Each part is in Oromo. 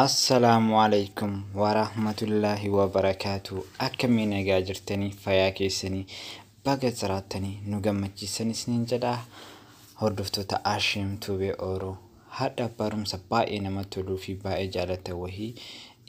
Assalaamu alaikum warahmatullaahi wabarakaatu akkamii nagaa jirtanii fayaa keessanii baga jiraattanii nu gammachiisan isiniin jedha hordoftoota Ashiim Tuubee Ooroo Hadha barumsa baay'ee namatti toluu fi baay'ee jaalatan wahii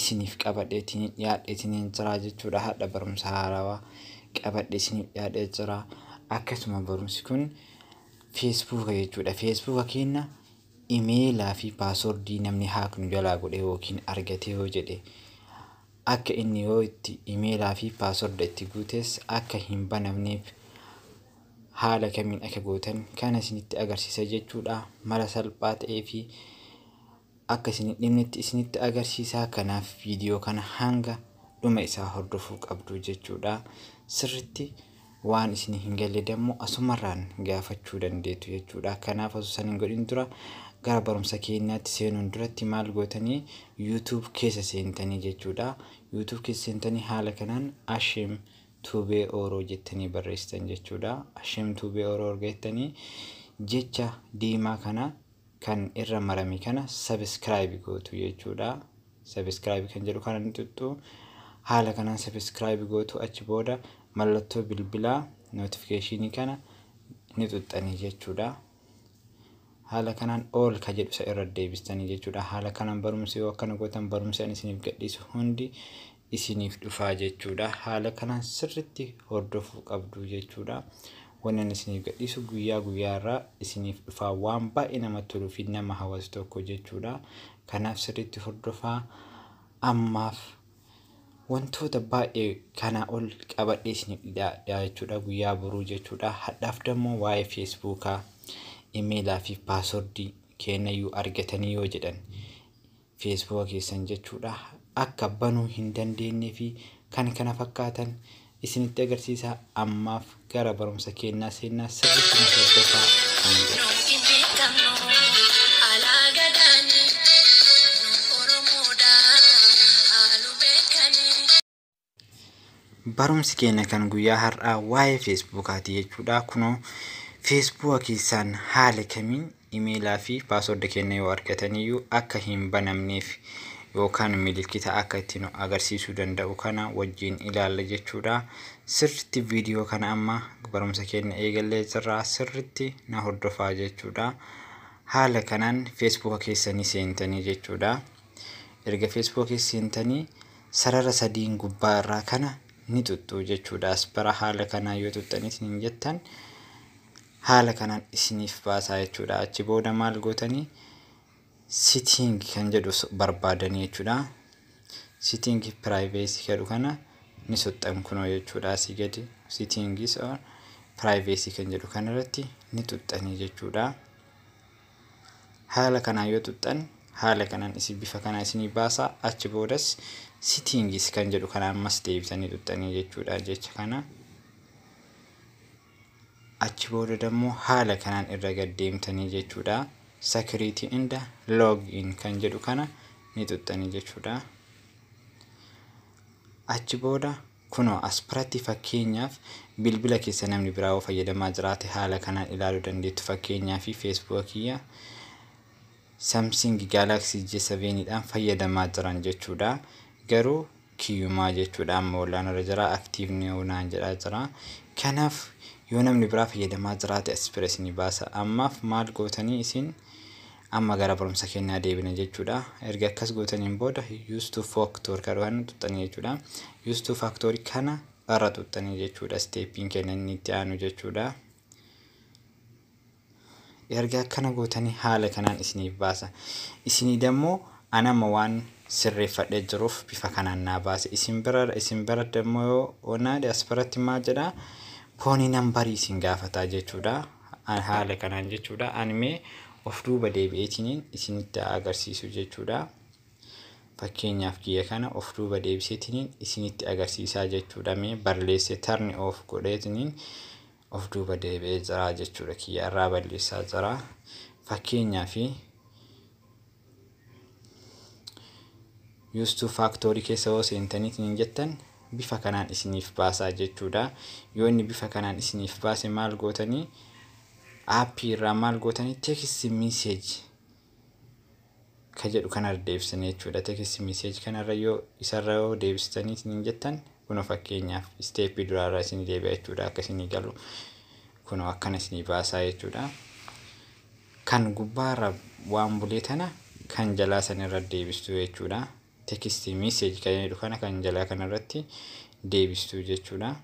isiniif qabadheetiniin dhiyaadheetiniin jira jechuudha. Hadha barumsa haarawaa qabadhe isiniif dhiyaadhee jira. Akkasuma barumsi kun feesbuuka jechuudha. Feesbuuka keenya imeelaa fi paaswordii namni haak nu jalaa godhe yookiin argatee yoo jedhe akka inni yoo itti imeelaa fi paasworda itti guutes akka hin banamneef haala kamiin akka gootan kana isinitti agarsiisa jechuudha. Mala salphaa ta'ee fi akka isin hin dhibnetti isinitti agarsiisa. Kanaaf viidiyoo kana hanga dhuma isaa hordofuu qabdu jechuudha. Sirritti waan isin hin galle dammoo asumarraan gaafachuu dandeettu jechuudha. Kanaaf osoo san hin godhin dura gara barumsa keenyaatti seenuun duratti maal gootanii YouTube keessa seentanii jechuudha. YouTube keessa seentanii haala kanaan Ashim Tube Oro jettanii barreessitan jechuudha. Hashem Tube Oro erga jettanii jecha diimaa kana kan irra marame kana subscribe gootu jechuudha. Subscribe kan jedhu kana ni tuttu. Haala kanaan subscribe gootu achi booda mallattoo bilbilaa notification kana ni tuttanii jechuudha. Haala kanaan all ka jedhu isa irra deebistanii jechuudha. Haala kanaan barumsi yoo akkana gootan barumsi ani isiniif gadhiisu hundi isiniif dhufaa jechuudha. Haala kanaan sirritti hordofuu qabdu jechuudha. Wanni ani isiniif gadhiisu guyyaa guyyaa irraa isiniif dhufaa waan baay'ee nama toluu fi nama hawwatu tokko jechuudha. Kanaaf sirritti hordofaa ammaaf Wantoota baay'ee kanaa ol qabadhee isiniif dhiyaadha jechuudha guyyaa boruu jechuudha. Hadhaaf dammoo waa'ee feesbuukaa, imeelaa fi paaswordii keenyayyuu argatanii yoo jedhan feesbuuka keessan jechuudha akka banuu hin dandeenye fi kan kana fakkaatan isinitti agarsiisa ammaaf gara barumsa keennaa seennaa sirritti nu hordofaa kan jedhu. Nuti beekamnu alaa gadaani nu oromoodha haalu beekani. Barumsi keenna kan guyyaa har'aa waa'ee feesbuukaati jechuudha kunoo feesbuuka keessaan haala kamiin Imeela fi password keenna yoo argatan iyyuu akka hin banamneef yookaan milikkita akka itti nu agarsiisuu danda'u kana wajjiin ilaalla jechuu dha. Sirritti video kana amma barumsa keenna eegallee jirra sirritti na hordofaa jechuu dha. Haala kanaan Facebook keessanii seentanii jechuu dha. Erga Facebook keessa seentanii sarara sadiin gubbaa irraa kana ni xuxxuu jechuu dha. As bara haala kanaa yoo xuxxaniitiin hin jettan Haala kanaan isiniif baasaa jechuudha. Achi booda maal gootanii sitting kan jedhu barbaadanii jechuudha. Sitting privacy jedhu kana ni tuqxan kunoo jechuudha asii gadi sittingis or privacy kan jedhu kanarratti ni tuqxanii jechuudha. Haala kanaan yoo tuqxan haala kanaan isin bifa kana isinii baasaa achi boodas sittingis kan jedhu kana ammas deebitanii tuqxanii jechuudha jecha kana. Achi booda dammo haala kanaan irra gad deemtanii jechuudha security and log in kan jedhu kana ni xuxxanii jechuudha. Achi booda kunoo as biratti fakkeenyaaf bilbila keessa namni biraa yoo fayyadamaa jiraate haala kanaan ilaaluu dandeettu fakkeenyaa fi feesbuuka kiyya Samsing Galaxy J7 dhaan fayyadamaa jiran jechuudha. Garuu kiyyumaa jechuudha amma wallaanarra jira active new naan jedhaa jira. Kanaaf yoo namni biraa fayyadamaa jiraate as bira isinii baasa. Ammaaf maal gootanii isin amma gara barumsa kennaa deebina jechuudha. Erga akkas gootaniin booda use to factor kan waan tuttanii jechuudha. Use to factor kana irra tuttanii jechuudha. Steepiin kenna inni itti aanu jechuudha. Erga akkana gootanii haala kanaan isiniif baasa. Isinii dammoo an amma waan sirreeffadhee jiruuf bifa kanaan naa baase. Isin bira isin bira dammoo yoo onaade as biratti maal jedha poonii nambarii isin gaafataa jechuudha. An haala kanaan jechuudha. An mee of duuba deebi'eetiniin isinitti haa agarsiisu jechuudha. Fakkeenyaaf kiyya kana of duuba deebiseetiniin isinitti agarsiisaa jechuudha. Mee barreessee tarni of godheetiniin of duuba deebi'ee jira jechuudha kiyya irraa balleessaa jira fakkeenyaa fi yuustuu faaktorii keessa yoo seentaniit hin jettan bifa kanaan isiniif baasaa jechuudha yoo inni bifa kanaan isiniif baase maal gootanii aappii irraa maal gootanii teekistii miiseeji ka jedhu kana irra deebisanii jechuudha. Text message kana irra yoo isa irra yoo deebistanii isiniin jettan kuno fakkeenyaaf isteeppii duraa irra isinii deebi'a jechuudha akka isinii galu kuno akkana isinii baasaa jechuudha. Kan gubbaa irra waan bulee tana kan jalaa san irra deebistuu jechuudha. Text message kan jedhu kana kan jalaa kana irratti deebistuu jechuudha.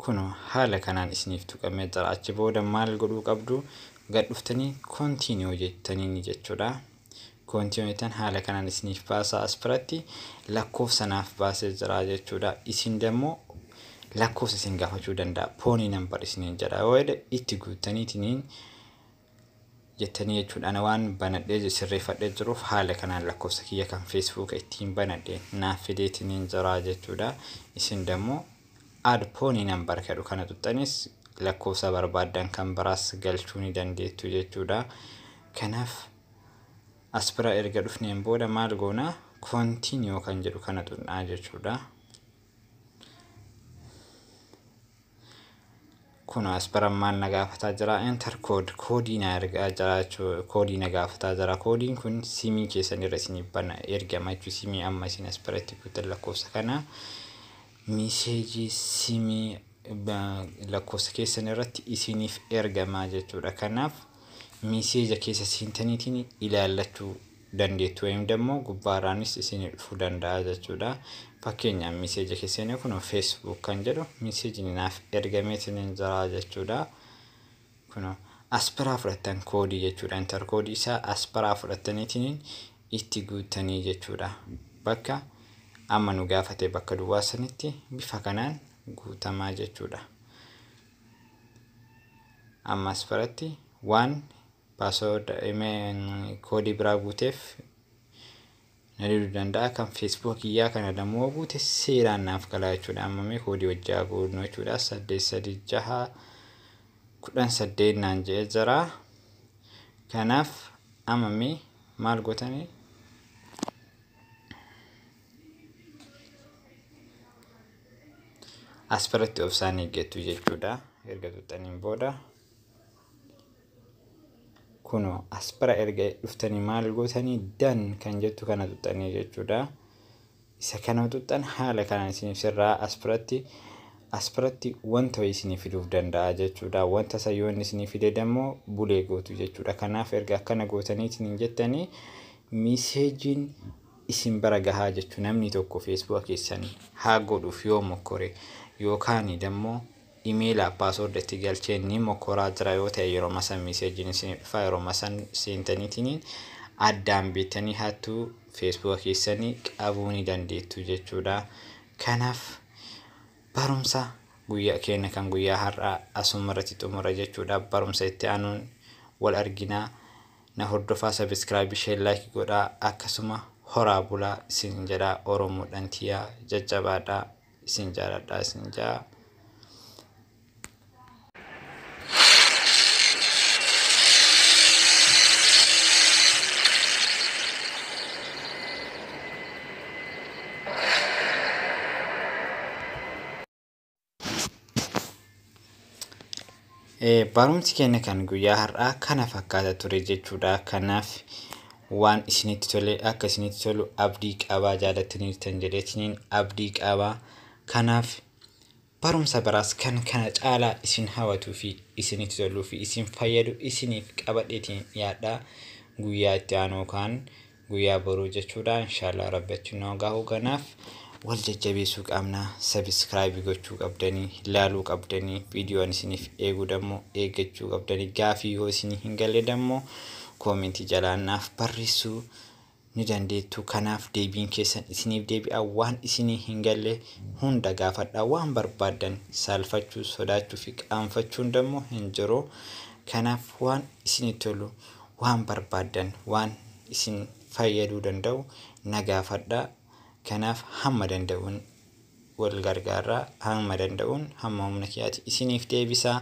Kuno haala kanaan isiniif tuqamee jira. Achi booda maal godhuu qabdu? Gad dhuftanii continue jettanii jechuudha. Continue jettan haala kanaan isiniif baasaa as biratti lakkoofsa naaf baasee jira jechuudha. Isin dammoo lakkoofsa isin gaafachuu danda'a. Poonii nambar isiniin jedha. Yoo jedhe itti guuttaniitiniin jettanii jechuudha ana waan banadhee sirreeffadhee jiruuf haala kanaan lakkoofsa kiyya kan feesbuuka ittiin banadhe naaf fideetiniin jiraa jechuudha isin dammoo aad poonii nan barkadhu kana tuxxanis lakkoofsa barbaaddan kan biraas galchuu ni dandeettu jechuudha kanaaf as bira erga dhufneen booda maal goona continue kan jedhu kana tunnaa jechuudha kun asparam maal na gaafataa jira enter code koodii na ergaa jira jechuu koodii na gaafataa jira koodiin kun siimii keessan irra isin bana ergama jechuu siimii amma isin asparatti guutan lakkoofsa kana miseejii siimii lakkoofsa keessan irratti isiniif ergama jechuudha kanaaf miseeja keessa seentaniitiin ilaallachuu dandeettu wayim dammo gubbaaraanis isiini dhufu danda'a jechuudha. Fakkeenyaaf miseeja keessani kuno Facebook kan jedhu miseejini naaf ergameetinin jira jechuudha. Kuno as biraa fudhattan koodii jechuudha. Inter koodii isaa as biraa fudhattaniitinin itti guuttanii jechuudha. Bakka amma nu gaafate bakka duwwaa sanitti bifa kanaan guutamaa jechuudha. Amma as biratti waan password koodii biraa guuteef na diduu danda'a kan facebook iyyaa kana dammoo guute seeraan naaf galaa jechuudha amma mee koodii wajjaa guunnu jechuudha saddeet sadii jaha kudhan saddeet naan je'e jira kanaaf amma mee maal gootanii as biratti obsaan eeggattu jechuudha erga tuttaniin booda kuno as bira erga dhuftanii maal gootanii dan kan jettu kana tuxxanii jechuudha. Isa kana tuxxan haala kanaan isiniif sirraa as biratti as biratti wanta isiniif fiduuf danda'a jechuudha. Wanta isa yoo inni isiniif fide immoo bulee gootu jechuudha. Kanaaf erga akkana gootanii isiniin jettanii miseejiin isin bara gahaa jechuudha. Namni tokko feesbuuka keessan haa godhuuf yoo mokkore yookaan immoo Emaila password itti galchee ni mokoraa jira yoo ta'e yeroma san message isinii dhufaa yeroma san seentanitiin addaan beettanii hattu Facebook keessanii qabuu ni dandeettu jechuudha kanaaf barumsa guyyaa keenya kan guyyaa har'aa asuma irratti xumura jechuudha barumsa itti aanuun wal arginaa na hordofaa subscribe share like godhaa akkasuma horaa bulaa isin jedhaa oromoodhan tiyaa jajjabaadhaa isin jaaladhaa isin jaa. Barumsi keenya kan guyyaa har'aa kana fakkaata ture jechuudha. Kanaaf waan isinitti tole akka isinitti tolu abdii qabaa jaalattaniirtan jedheetiniin abdii qabaa. Kanaaf barumsa biraas kan kana caalaa isin hawatuu fi isinitti toluu fi isin fayyadu isiniif qabadheetiin dhiyaadha. Guyyaa itti aanuu kan Guyyaa boruu jechuudha inshallah rabbi achi nu haa gahu ganaaf wal jajjabeesuu qabna subscribe gochuu qabdanii laaluu qabdanii video an isiniif eegu dammoo eeggachuu qabdanii gaafii yoo isinii hin galle dammoo koomentii jalaan naaf barreessuu ni dandeettu kanaaf deebiin keessan isiniif deebi'a waan isinii hin galle hunda gaafadha waan barbaaddan saalfachuu sodaachuu fi qaanfachuun dammoo hin jiru kanaaf waan isinii tolu Waan barbaaddan, waan isin fayyaduu danda'u na gaafadhaa. Kanaaf hamma danda'uun wal gargaarraa, hamma danda'uun, hamma humna kiyaatiin isiniif deebisaa.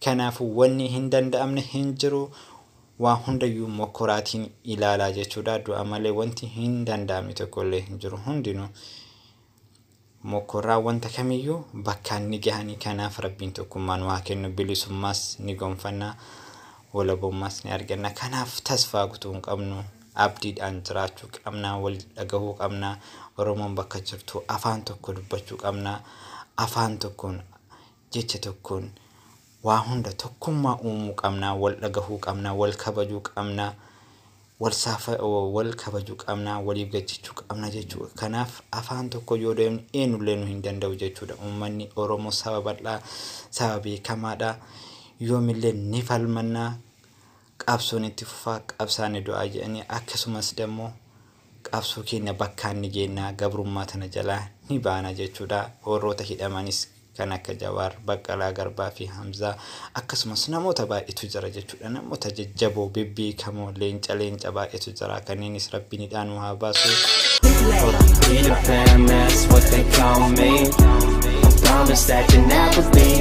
Kanaafuu wanni hin danda'amne hin jiru. Waa hundayyuu mokkoraatiin ilaalaa jechuudha. Du'a malee wanti hin danda'amne tokkollee hin jiru. Hundinuu Mokkoraa wanta kamiyyuu bakkaan ni gahanii kanaaf Rabbiin tokkummaa nu haa kennu bilisummaas ni gonfanna walabummaas ni arganna kanaaf tasfaa kutuu hin qabnu abdiidhaan jiraachuu qabna wal dhagahuu qabna Oromoon bakka jirtu afaan tokko dubbachuu qabna afaan tokkoon Jecha tokkoon waa hunda tokkummaa uumuu qabna, wal dhagahuu qabna, wal kabajuu qabna, wal saafa, wal kabajuu qabna, waliif gachichuu qabna jechuudha. Kanaaf afaan tokko yoo deemnu eenyullee nu hin danda'u jechuudha. Uummanni Oromoo saba bal'aa, saba beekamaadha. Yoomillee ni falmanna. Qabsoon itti fufa, qabsaan ni du'a jedhanii akkasumas dammoo qabsoo keenya bakkaan ni geenna, gabrummaa tana jalaa ni baana jechuudha. Warroota hidhamanis kan akka Jawaar, Baqqalaa Garbaa fi Hamzaa akkasumas namoota baay'eetu jira jechuudha. Namoota jajjaboo, bebbeekamoo, leenca leenca baay'eetu jira. Kanneenis Rabbiin hidhaa nu haa baasu. Horaa. Be the fam, that's what they call me. I promise that you'll never be.